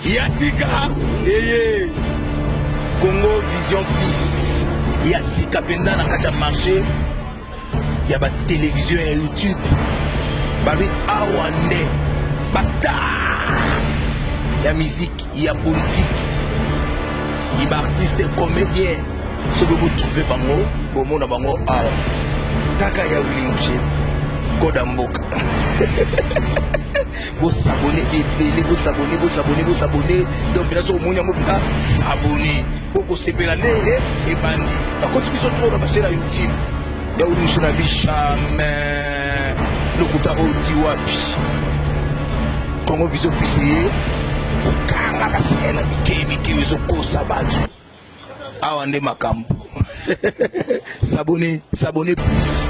Ya sika eye Congo Vision Plus ya sika mpenza na kati ya marché ya ba télévision ya YouTube babi awa nde bastar ya miziki ya politike ye baartiste comédien soki botrouve bango bomona bango awa kaka ya wilinge koda mboka Bo s'abonner ebele, bo s'abonner, bo s'abonner, bo s'abonner. Donc là so moni yango pita s'abonner. Bo ko sepela nde ye eh, ebandi. Ba kosi biso trop na ba chaîne YouTube. Ya uli miso na bi jamais. Lokuta o ti wapi. Congo vision pisi ye. Kanga kasi na mike mike ezo kosa batu. Awa nde makambo. s'abonner, s'abonner plus.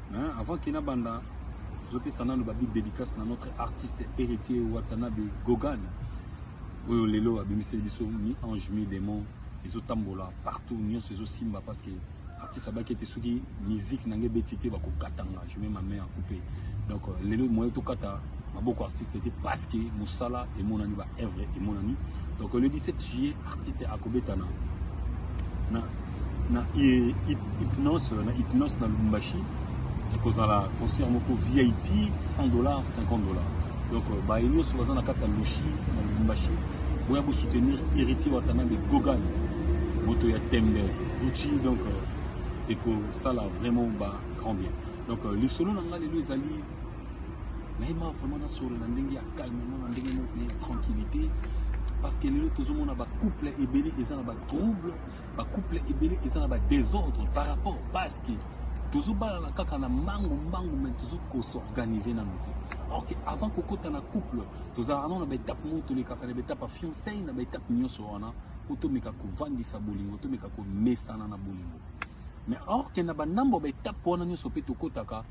Hein, avant que na banda tozopesa nano babi dédicace na notre artiste héritier watanabe gogan oyo lelo abimiseli biso mi ange mi démon ezotambola partout nyonso ezosimba parce que artiste abaki ete soki musique na ngai ebeti te bakokatanga je mets ma main en coupe donc euh, lelo moyen tokata maboko artiste ete parce que mosala emonani baœuvre emonani donc le 17 juillet Artiste akobeta na na na hypnose na hypnose na Lubumbashi ekozala concert moko VIP 100 dollars 50 dollars donc euh, baye nyonso baza na kati ya lushi na Lubumbashi boya bosoutenir héritier Watanabe Gogan moto ya tembe Gucci donc euh, ekosala vraiment ba grand bien donc euh, lisolo na ngai lelo ezali nayema vraiment nasolola ndenge ya calmement na ndenge moko ya tranquillité parce que lelo tozomona bacouple ebele eza na batrouble bacouple ebele eza na badésordre par rapport parce que tozobalana kaka na mbangu mbangu me tozokosorganize nano te alors que avant kokota na couple tozalaka nano na baetape moko tolekaka na baetape ya fiancei na baetape nyonso wana mpo tomeka kovandisa bolingo tomeka komesana na bolingo mais or que na ba ndambo ba etape wana nyonso pe tokotaka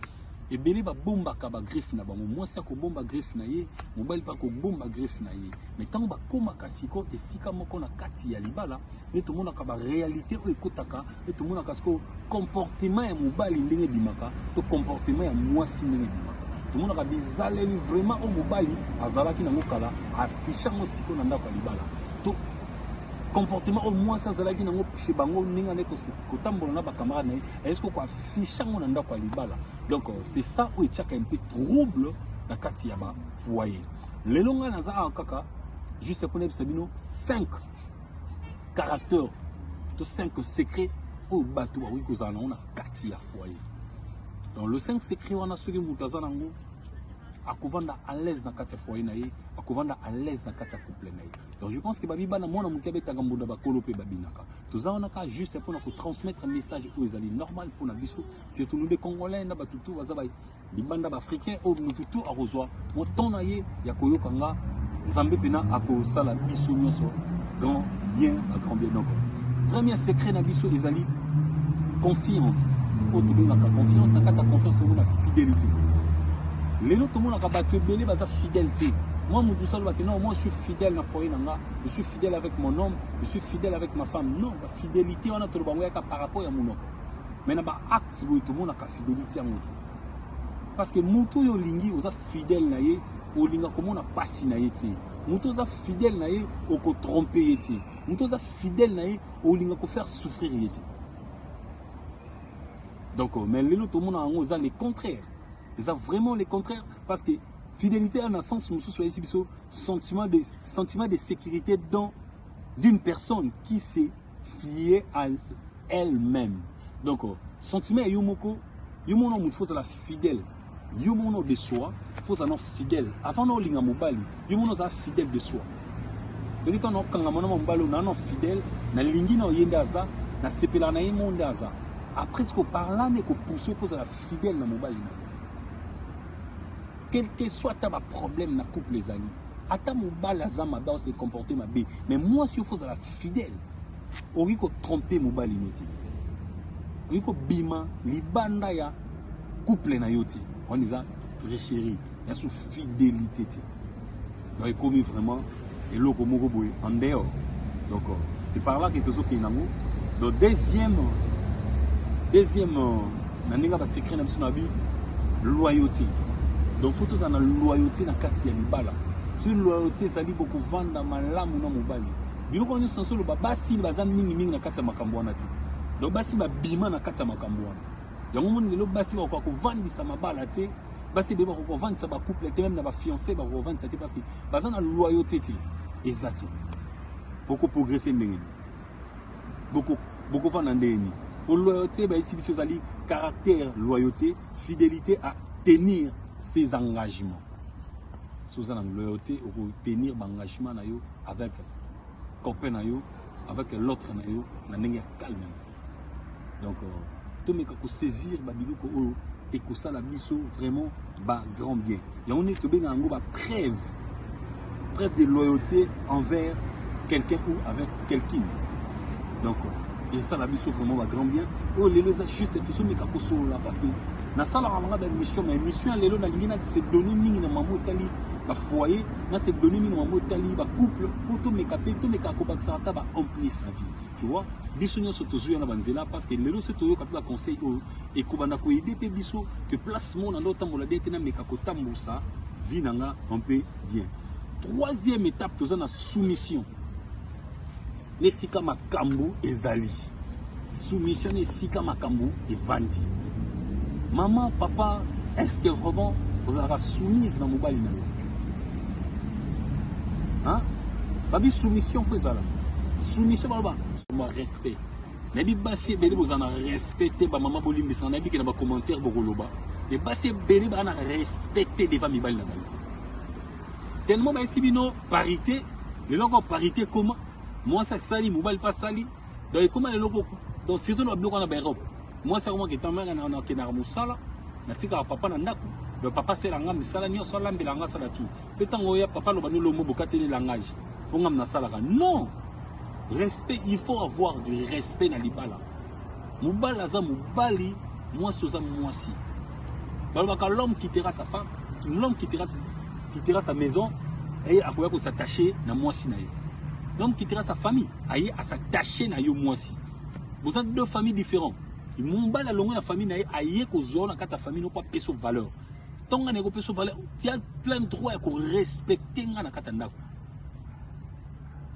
ebele babombaka bagreffe na bango mwasi akobomba greffe na ye mobali mpe akobomba greffe na ye mai ntango bakomaka sikoyo esika moko na kati ya libala nde tomonaka barealité oyo ekotaka nde tomonaka sikoyo comportement ya mobali ndenge ebimaka to comportement ya mwasi ndenge ebimaka tomonaka bizaleli vraiment oyo mobali azalaki nango kala afishe yango sikoyo na ndako ya libala to comportement oyo mwasi azalaki nango chez bango ndenge ane kotambola na bacamarade na ye ayesi koko afisha yango na ndako ya libala donc euh, c'est ça oyo etiaka mpe trouble na kati ya bafoyer lelo ngai naza awa kaka juste mpo nayebisa bino 5 caractère to 5 secret oyo bato bakoki kozala nango na kati ya foyer donc le 5 secret wana soki moto aza nango akovanda à l'aise na kati ya foyer na ye akovanda à l'aise na kati ya couple na ye Donc je pense que babi bana mwana moke abetaka mbunda bakolo mpe babinaka toza wana kaka juste mpo na kotransmettre message oyo ezali normal mpo na biso surtout nous de congolais na bato tout baza libanda baafricain oyo motu tout akozwa mwa temps na ye ya koyoka nga nzambe mpena akosala biso nyonso grand bien ba grand bien donc premier secret na biso ezali confiance oyo tobengaka confiance na kati ya confiance tomonaka fidélité lelo tomonaka bato ebele baza fidèle te Moi mutu solo ba non moi je suis fidèle na foyer na nga, je suis fidèle avec mon homme, je suis fidèle avec ma femme. Non, la fidélité on a tout le bango yaka par rapport ya munoko. Mais na ba actes boy tout mona ka fidélité ya mutu. Parce que mutu yo lingi oza fidèle na ye, olinga komona pasi na ye te. Mutu oza fidèle na ye oko tromper ye te. Mutu oza fidèle na ye olinga ko faire souffrir ye te. Donc mais lelo tout mona yango oza le contraire. Oza vraiment le contraire parce que Fidelite a na sens mosusu ayebisi biso sentiment de, sentiment de sécurité dans d'une personne qui s'est fiée à elle-même. Donc, euh, sentiment ya yo moko, yo moko na moto faut la fidèle. Yo moko de soi, faut na fidèle. Avant na olinga mobali, yo moko na fidèle de soi. Donc, tant na kanga mona mobali na na fidèle, na lingi na oyenda aza, na sepela na yemo ndaza. Après ce que parla ne ko pousser pour la fidèle na mobali na. quelque soit ata ba problème na couple ezali ata mobali aza mabe ose comporte mabe mais mwasi ofo ozala fidèle okoki kotrompe mobali no te okoki kobima libanda ya couple na yo te wana eza tricherie ya su fidélité te donc ekomi vraiment eloko moko boye en dehors donc euh, c'est par là que tozokende nango donc deuxième deuxième euh, na ndenge ba secret na biso na bi loyauté donc faut tozala na loyauté na kati ya libala soki loyauté ezali bokovanda malamu na mobali biloko nyonso na soloba basi baza mingimingi na kati ya makambo wana te donc basi babima na kati ya makambo wana yango omoni lelo basi bakoka kovandisa mabala te basi ebele bakoka kovandisa bacouple te meme na bafiance bakoka kovandisa te parce que baza na loyauté te eza te bokoprogresse ndenge nini bokovanda ndenge nini po loyauté bayebisi biso ezali caractère loyauté fidélité à tenir ses engagements soki oza na loyauté okotenir baengagement na yo avec copain na yo avec l'autre na yo na ndenge ya calme donc euh, tomeka kosaisir babiloko oyo ekosala biso vraiment ba grand bien yango nini tobenga yango ba preuve preuve de loyauté envers quelqu'un ou avec quelqu'un donc euh, esala biso vraiment ba grand bien oyo lelo eza juste tosomeka kosolola parce que nasalaka banga ba émission mais émission ya lelo nalingi na se donner mingi na mama otali ba foyer na se donner mingi na mama otali ba couple mpo tomeka mpe tomeka kobakisaka ata ba en plus na vie tu vois biso nyonso tozwi wana banzela parce que lelo soki toyoka mpe baconseil oyo ekobanda koyede mpe biso que place mona nde otambola bien te nameka kotambusa vie na nga un peu bien troisième étape toza na soumission na esika makambo ezali soumission na esika makambo evandi mama papa est ce que vraiment ozalaka soumise na mobali na yo Hein? Babi soumission faut ezala. Soumission baloba. Soma respect. nayebi basi ebele bozala na respect te bamama bolimbisaka nayebi ke na bacommentaire bokoloba me basi ebele baa na respect te devant mibali na bango tellement bayesi bino parité lelo encore parité ekoma mwasi asali mobali mpe asali donc ekoma lelo ko donc surtout na biloko wana ba Europe mwasi akomaka etamaka na nakendaka mosala natikaka papa na ndako donc papa asala nga misala nyonso alambela nga asala tout mpe ntango oya papa aloba nolombo bokateli langage mpo nga nasalaka non respect il faut avoir du respect na libala mobali aza mobali mwasi oza mwasi balobaka l'homme quittera sa femme l'homme quittera, quittera sa maison eye akoya kosattache na mwasi na ye l'homme quittera sa famille aye à s'attacher na yo mwasi boza deux familles différents mobali alongwe na famille na ye aye kozwa na kati ya famille noko apesa valeur ntongo ngai nakopesa valeur tia plein droit ya korespecte ngai na kati ya ndako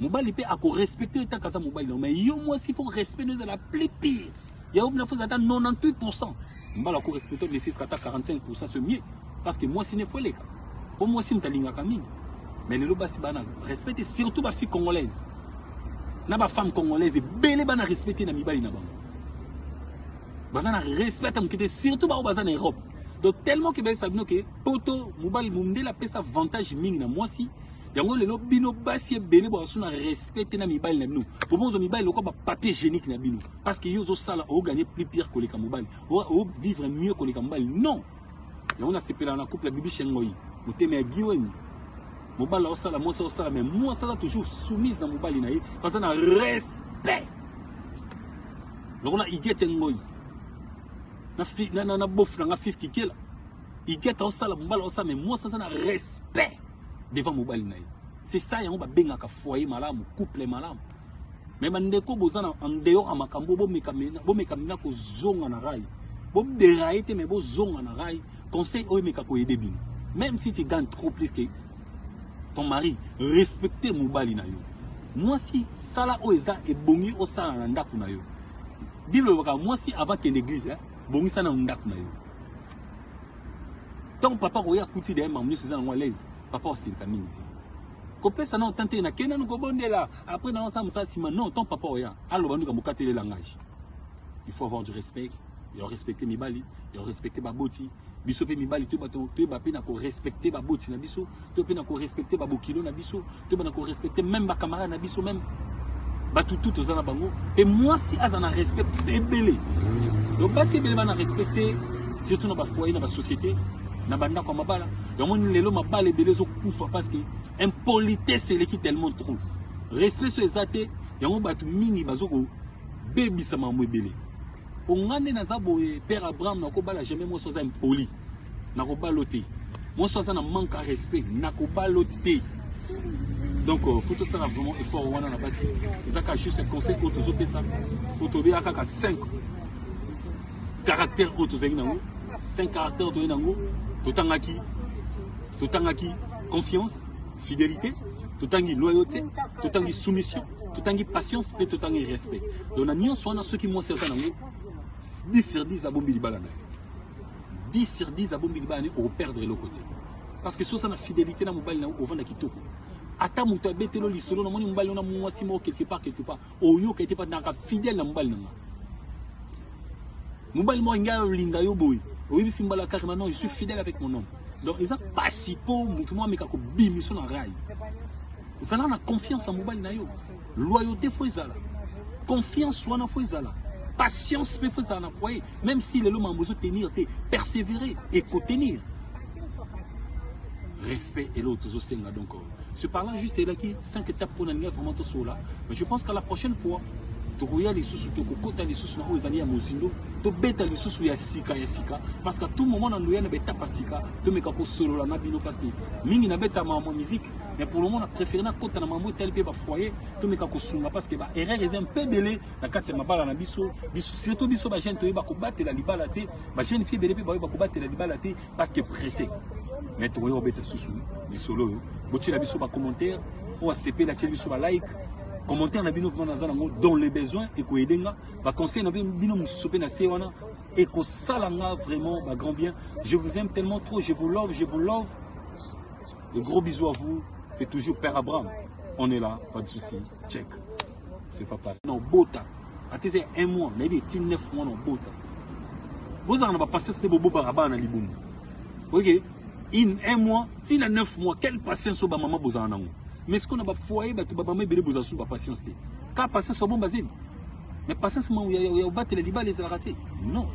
mobali mpe akorespecte yo ntaka aza mobali na yo mai yo mwasi mpo respect no ezala plus pire Ya obna faut ata 98% mbala ko respecter les fils kata 45% c'est mieux parce que moi sine faut leka. Po moi sine talingaka mingi. Mais lelo basi bana respecter surtout ba fille congolaise. Na ba femme congolaise ebele bana respecter na mibali na bango. Baza na respect ata mokete surtout ba baza na Europe. Donc tellement que bayebisa bino ke poto mobali mondele apesa avantage mingi na mwasi yango lelo bino basi ebele bwasuna respect te na mibali na bino bobonzo mibali lokola bapapier génique na bino parce que yo ozo sala o gagner plus pire koleka mobali o vivre mieux koleka mobali non yango na sepela na couple bibi shengoyi motema ya giweni mobali osala mwasi osala mais mwasi aza toujours soumise na mobali na ye baza na respect lokola igete ngoyi na, na, na bofu na nga fils kikela igete osala mobali osala mais mwasi aza na respect devant mobali na ye c'est ça yango babengaka foyer malamu couple malamu mais bandeko boza na en dehors ya makambo bomekamina na kozonga na rai boderaye te mais bozonga na rai conseil oyo emeka koyede bino même si tu gagne trop plus que ton mari respecte mobali na yo mwasi sala oyo eza ebongi osala na ndako na yo bible elobaka mwasi avant kende eglise eh, bongisa na ndako na yo ntango papa akoya akuti daye mamu nyonso eza nango alaise papa osilika mingi te kopesa nao temps te na kenda noko bondela après na osa musa sima non ton papa oya aloba nduka mokatele langage il faut avoir du respect ya respecter mibali ya respecter baboti biso mpe mibali toyeba toyeba mpe na korespecte baboti na biso to mpe na korespecte babokilo na biso toyeba na korespecte meme bacamarade na biso meme bato tu toza na bango mpe mwasi aza na respect ebele donc basi ebele bana respecte surtout na bafoyer na basociété na bandako ya mabala yango nini lelo mabala ebele ezokufa parce que impolitesse eleki tellement trop respect so eza te yango bato mingi bazokobebisa makambo ebele mpo ngai nde naza boye père abraham nakobala jamais mwasi aza impoli nakobalo te mwasi aza na manque ya respect nakobalo te donc euh, faut tosala vraiment effort wana na basi eza kaka juste conseil oyo tozopesa oyo tobeyaka kaka 5 caractère oyo tozalaki nango cinq caractère oyo toyei nango totangaki totangaki confiance fidélité totangi loyauté totangi soumission totangi patience mpe totangi respect donc na nyonso wana soki mwasi aza nango 10 sur 10 abombi libala na ye 10 sur 10 abombi libala na ye okoperdre eloko te parce que soza na fidélité na mobali na yo ovanda kitoko ata moto abetelo lisolo namoni mobali ona mwasi moko quelque part quelque part oyoka ete patnaka fidèle na mobali na nga mobali moko ngai olinga yo boye oyebisi mbala kaka maintenant je suis fidèle avec mon homme donc eza pasi mpo moto moko ameka kobimiso na rai zala na confiance ya mobali na yo loyauté fo ezala confiance wana fo ezala patience mpe fo ezala na foyer même si lelo mambo ezotenir te persévérer ekotenir respect eloko tozosenga donc Ce par là juste elaki 5 étapes pour nalinga vraiment tosola mais je pense qu'à la prochaine fois tokoya lisusu tokokota lisusu na oyo ezali ya mozindo tobeta lisusu ya sika ya sika parce qu'à tout moment na loya na betape ya sika tomeka kosolola na bino parce que mingi nabeta mambo musique mais pour le moment na préféré nakota na mambo etali mpe bafoyer tomeka kosunga parce que baerreur eza mpe ebele na kati ya mabala na biso biso surtout biso bajeune toyeba kobatela libala te bajeune fille ebele mpe baoyo bakobatela libala te parce que pressé mais tokoya kobeta susu lisolo oyo botyela biso bacommentaire oyo asepeli atyeli biso balike commentaire na bino vraiment naza nango dans le besoin ekoyede nga baconseil na bino mosusu mpe na se wana ekosala nga vraiment bagrand bien je vous aime tellement trop je vous love je vous love de gros bisous à vous c'est toujours père abraham on est là pas de souci check C'est pas pareil. Non, bota. Ati c'est un mois, mais il est 9 mois non bota. Vous en avez passé c'était bobo barabana libumu. OK In un mois, ti na 9 mois, quelle patience au maman boza nango. Mais ce qu'on a ba foyer ba ba maman bele boza sous ba patience té. Ka patience au bon bazin. Mais patience maman ya ya battre les libales les raté. Non.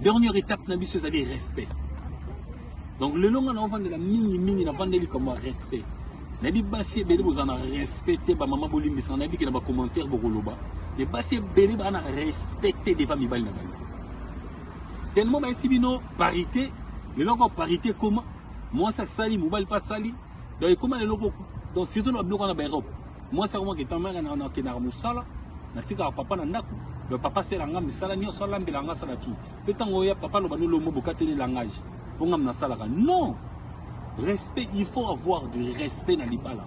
Dernière étape na biso ezali respect. Donc le long on va de la mini mini na vandeli comme respect. nayebi basi ebele boza na respect te bamama bolimbisaka nayebi ke na bacommentaire bokoloba me basi ebele baa na respect te deva mibali na bango tellement bayesi bino parité lelo oko parité ekoma mwasi asali mobali mpe asali donc ekoma lelo donc surtout na biloko wana baeurope mwasi akomaka etamaka nakendaka mosala natikaka papa na ndako donc papa asela nga misala nyonso alambela nga asala tout Pe tango ya papa loba no lombo bokateli langage. Bonga mna salaka. Non! Respect, il faut avoir du respect na libala.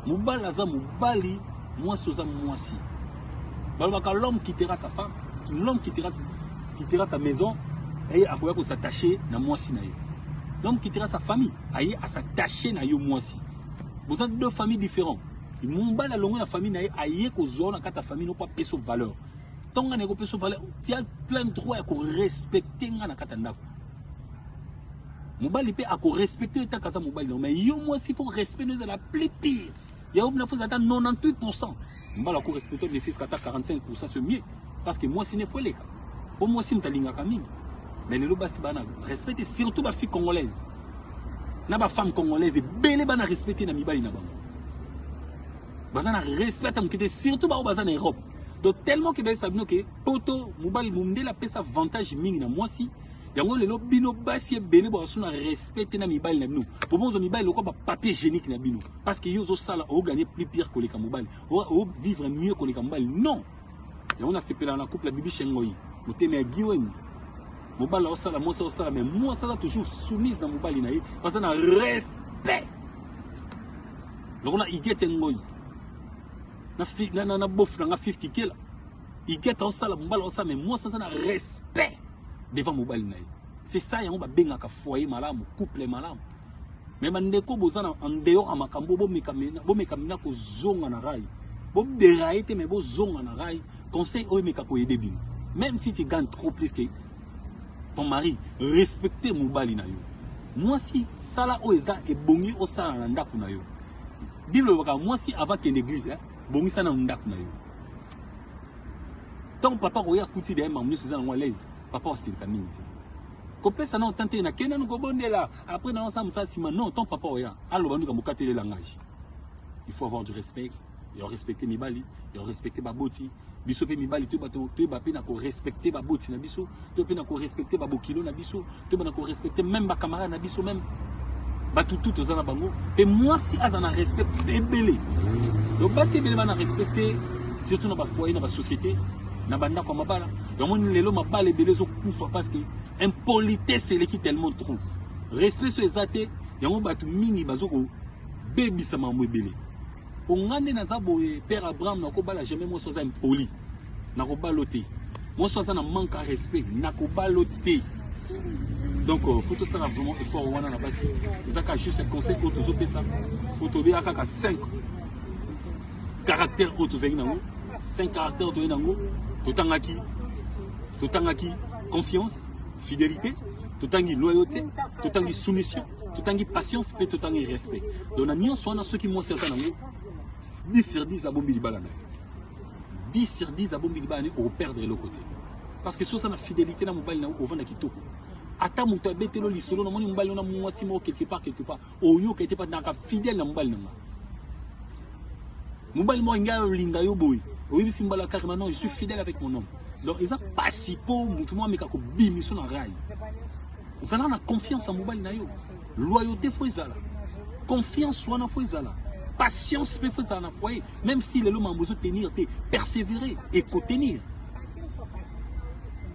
Mobali aza mobali, mwasi oza mwasi. Balobaka l'homme quittera sa femme, l'homme quittera, quittera sa maison, aye akoya ko s'attacher na mwasi na ye. L'homme quittera sa famille, aye à s'attacher na yo mwasi. Boza deux familles différentes. Mobali alongwe na famille na ye aye kozwa na kata famille no po apesa valeur. ntongo ngai nakopesa yo valeur tia plein droit ya korespecte ngai na kati ya ndako mobali mpe akorespecte yo etaka aza mobali nao mai yo mwasi fo respect no ezala plus pire yango bina foza ata 98 pourcent mbala akorespecte nefiska ata 45 pourcent ce mieux parce que mwasi nefo eleka mpo mwasi moto alingaka mingi mais lelo basi bana respecte surtout bafille congolaise na bafemme congolaise ebele bana respecte na mibali na bango baza na respect ata moke te surtout baoyo baza na europe donc tellement que bayebisa bino ke poto mobali mondele apesa avantage mingi na mwasi yango lelo bino basi ebele bakaso na respect te na mibali na bino po bozwa mibali lokola bapapier génique na bino parce que yo ozosala oganye plus pire koleka mobali ovivre mieux koleka mobali non yango nasepelaka na couple ya bibi shengoi motema ya giweni mobali aosala mwasi aosala mais mwasi aza toujours soumise na mobali na ye baza na respect lokola igete ngoi na fi na na, na bofu na nga fils kikela igeta osala mbala osala mais mwasi aza na respect devant mobali na ye c'est ça yango babengaka foyer malamu couple malamu mais bandeko boza na en dehors ya makambo bomekamina kozonga na rai boderaye te mais bozonga na rai conseil oyo emeka koyede bino même si tu gagnes trop plus que ton mari respecte mobali na yo mwasi sala oyo eza ebongi osala na ndako na yo Bible elobaka mwasi avant kende église hein, bongisa na ndako na yo. Tant papa koya kuti derrière mamu nyonso eza nango à l'aise, papa osilika mingi te. Kopesa na otante na kenda no kobondela, après na osa musa sima non, tant papa oya aloba nduka mokatele langage. Il faut avoir du respect, il faut respecter mibali, il faut respecter baboti, biso mpe mibali toyeba toyeba mpe na korespecte baboti na biso toyeba mpe na korespecte babokilo na biso toyeba na korespecte meme bacamarade na biso meme bato tu toza na bango mpe mwasi aza na respect ebele donc basi ebele bana respect te surtout na bafoyer na basociété na bandako ya mabala yango nini lelo mabala ebele ezokufa parce que impolitesse eleki tellement trop respect so eza te yango bato mingi bazokobebisa mambo ebele Po nga nde naza boye père Abraham na ko bala jamais moi soza impoli. Na ko balo te. Moi soza na manque à respect na ko balo te. Donc euh, faut tosala vraiment effort wana na basi. Ezaka juste un conseil oyo tozo pesa. Faut tobeya kaka 5 caractères oyo tozali nango. 5 caractères toyei nango. Totangaki totangaki confiance, fidélité, totangi loyauté, totangi soumission. totangi patience mpe totangi respect donc na nyonso wana soki mwasi aza nango 10 sur 10 abombi libala na ye 10 sur 10 abombi libala na ye okoperdre eloko te parce que soki oza na fidélité na mobali na yo ovanda kitoko ata moto abetelo lisolo namoni mobali ona mwasi moko quelque part quelque part oyoka ete patnaka fidèle na mobali na ngai Mobali moko ngai olinga yo boye. Oyebisi mbala kaka maintenant je suis fidèle avec mon homme. Donc eza pasi po mutu mwa meka ko bimiso na rail. Zala na confiance ya mobali na yo. Loyauté faut ezala. Confiance wana faut ezala. Patience pe faut ezala na foyer. Même si lelo mambo ezo tenir te, persévérer et ko tenir.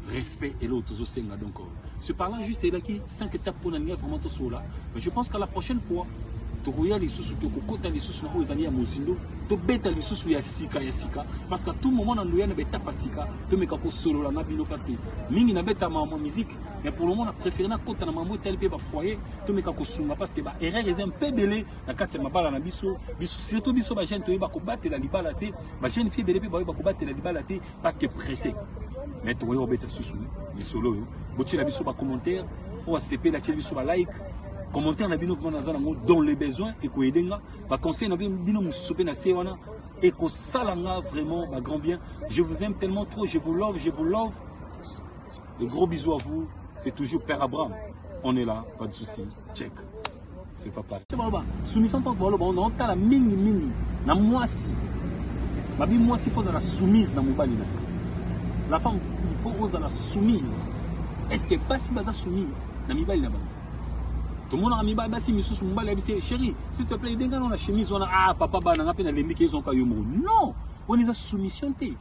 Respect et l'autre ozo senga donc. Ce parlant juste elaki 5 étapes pour naniga vraiment to sola. Mais je pense qu'à la prochaine fois tokoya lisusu tokokota lisusu na oyo ezali ya mozindo tobeta lisusu ya sika ya sika parce que tout moment na ndoya na betapa sika tomeka kosolola na bino parce que mingi na beta ma musique mais pour le moment na préféré na kota na mambo etali mpe bafoyer tomeka kosunga parce que baerreur eza mpe ebele na kati ya mabala na biso biso surtout biso bajeune toyeba kobatela libala te bajeune fille ebele mpe baoyo bakobatela libala te parce que pressé mais tokoki kobeta susu lisolo oyo botyela biso bacommentaire oyo asepeli atyeli biso balike commentaire na bino vraiment naza nango dans le besoin ekoyede nga baconseil na bino mosusu mpe na se wana ekosala nga vraiment bagrand bien je vous aime tellement trop je vous love je vous love De gros bisous à vous. C'est toujours Père Abraham. On est là, pas de souci. Check. C'est pas pareil. Baloba, soumission tant que baloba, on a la mingi mingi. Na mwasi. Babi mwasi faut la soumise na mobali na. La femme il faut oza la soumise. Est-ce que pas si baza soumise na mibali na bango? tomonaka mibali basi misusu mobali abisi chéri s'il te plaît edenga nao na chemise wana ah papa bana nga mpe nalembi ke ezonka yo moko non wana eza soumission te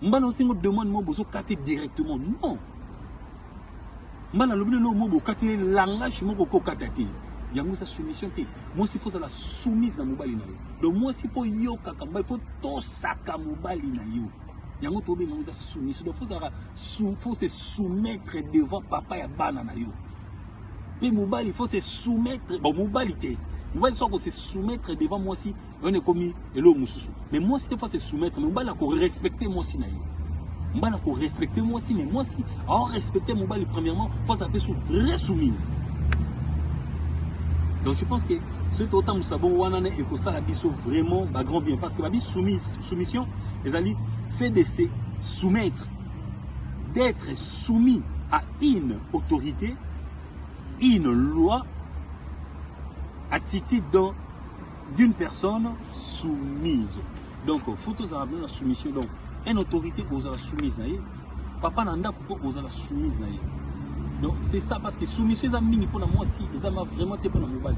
mbala osengo demande moko bozo kate directement non mbala alobi lelo moko bokati ye langage moko kokata te yango eza soumission te mwasi fo ozala soumise na mobali na yo donc mwasi fo yokaka mobali fo tosaka mobali na yo yango tobenga yango eza soumission donc fo ozalaka fo se soumettre devant papa ya bana na yo mpe mobali fo se soumettre bon mobali te mobali so ako se soumettre devant mwasi wana ekomi eloko mosusu mais mwasi te fois se soumettre mais mobali akorespecte mwasi na ye mobali akorespecte mwasi mais mwasi aorespecte mobali premièrement fois ape su très soumise donc je pense que soki totambusa bongo wana ne ekosala biso vraiment bagrand bien parce que babi soumise soumission ezali fait de se soumettre d'être soumis à une autorité une loi attitude dans d'une personne soumise donc faut tozala bino na soumission donc un autorité ozala soumise na ye papa na ndako mpo ozala soumise na ye donc c'est ça parce que soumission eza mingi mpona mwasi eza ma vraiment te mpona mobali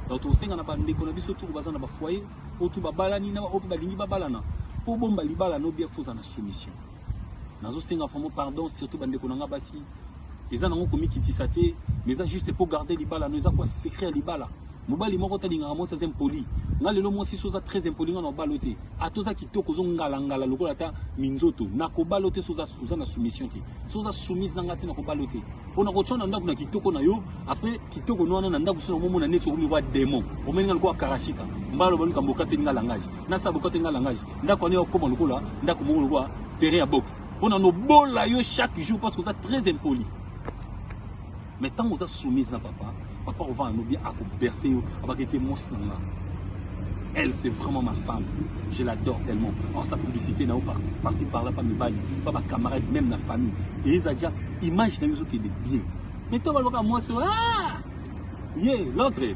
donc tokosenga na bandeko na biso toko baza na bafoyer oyo tu babalani na baoyo mpe balingi babalana mpo bomba libala nobia fozala na soumission Nazo senga vraiment pardon surtout bande ko nanga basi. Eza nango komikitisa te, mais eza juste pour garder libala, no eza quoi secret ya libala. Mobali moko talingaka mwasi aza impoli. Nga lelo mwasi so oza très impoli nga na obalo te. Ata oza kitoko ozo ngala ngala lokola ata minzoto. Na kobalo te so oza oza na soumission te. So oza soumise na nga te na kobalo te. Pona ko tshona ndaku na kitoko na yo, après kitoko no wana na ndaku so na momo na neti okomi kwa démon. Omeni nga lokola karashika. Mbalo baluka mboka te nga langage. Na sa boka te nga langage. ndako wana okoma lokola ndako moko lokola terrain ya boxe mpo na nobola yo chaque jour parce que oza très impoli mais ntango oza soumise na papa papa ovanda no bien akoberse yo abaki ete mwasi na nga elle c'est vraiment ma femme je l'adore tellement or sa publicité na yo parci parla pa mibali pa bacamarade même na famille eyeza ja image na yo ezokende bien mais ntango alobaka mwasi ye l'autre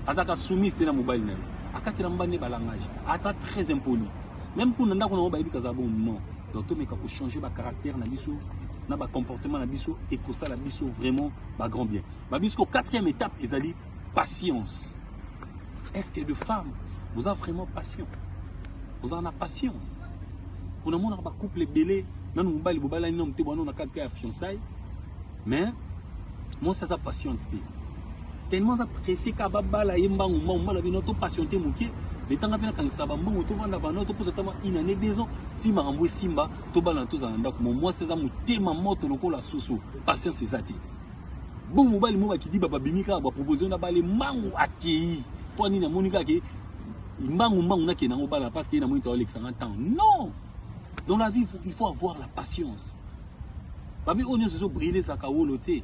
azalaka soumise te na mobali na ye akatela mobali nde balangage aza très impoli même kuna ndako nango bayebi kaza bon non donc tomeka kochanger bacaractère na biso na bacomportement na biso ekosala biso vraiment bagrand bien babisko quatrième étape ezali patience est-ce que de femme boza vraiment patient bozala na patience mpo namonaka bacouple ebele nanu mobali bobalani nanu te bwana na kati ya fiançaille mais mosi aza patiente te tellement aza presse ka babala ye mbangu mbangu mbala bino to patiente moke letanga mpe nakangisa bambongo tovanda bana toposa tama une année deux ans ti makambo esimba tobalana tozala na ndako mo mwasi aza motema moto lokola soso patience eza te bo mobali mo bakidiba babimi kaka baproposio na bale mbangu akei mpo nini amoni kaka ke mbangu mbangu nakende yango bala parce que ye namoni taolekisanga ntango non Dans la vie, il faut avoir la patience. Babi oyo nyonso ezobrille ezalaka wolo te.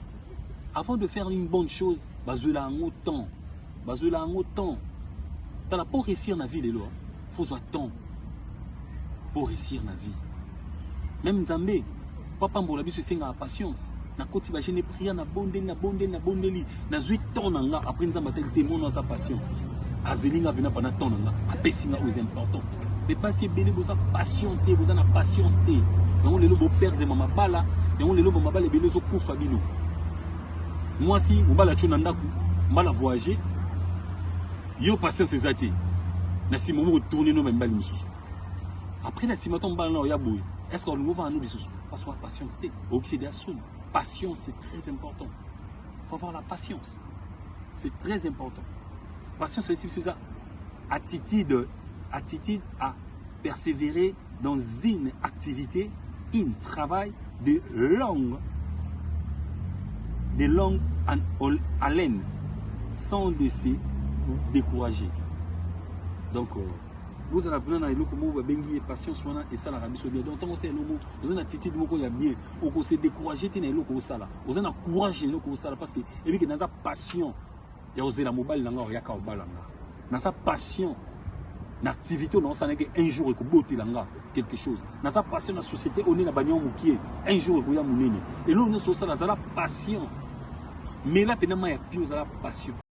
Avant de faire une bonne chose, bazwela yango temps. Bazwela yango temps. Tala mpo réussir na vie lelo, faut zwa temps mpo réussir na vie. Même Nzambe Mpo apambola biso esengaka patience. Nakoti ba jeune prière na bondeli na bondeli na bondeli nazwi temps na nga après nzambe atali te mono aza patient azeli nga mpena pendant temps na nga apesi nga oyo important mais basi ebele boza patient te boza na patience te yango lelo boperdre ma mabala yango lelo bamabala ebele ezokufa bino mwasi mobala tyo na ndako mbala voyage yo patience eza te na nsima omoko tourne no bamibali mosusu après na nsima to mobala na oya boye est ce que olingi ovanda no lisusu parce que patience te oyokisi de asoni patience c'est très important faut avoir la patience c'est très important patience esi biso eza attitude attitude à persévérer dans une activité un travail de longue de longue haleine sans de se décourager donc euh, bozala mpena na eloko moko babengi ye patience wana esalaka biso bien donc ntango osala eloko oza na attitude moko ya bien okose décourage te na eloko osala oza na courage na eloko osala parce que ebike naza passion ya kozela mobali na ngai oyaka obala nga naza passion na activité oyo naosanaki un jour ekobotela nga quelque chose naza passion na société oyo nde na banio mokie un jour ekoya monene eloko nyonso osala zala passion mela mpena mai ya pio ozala passion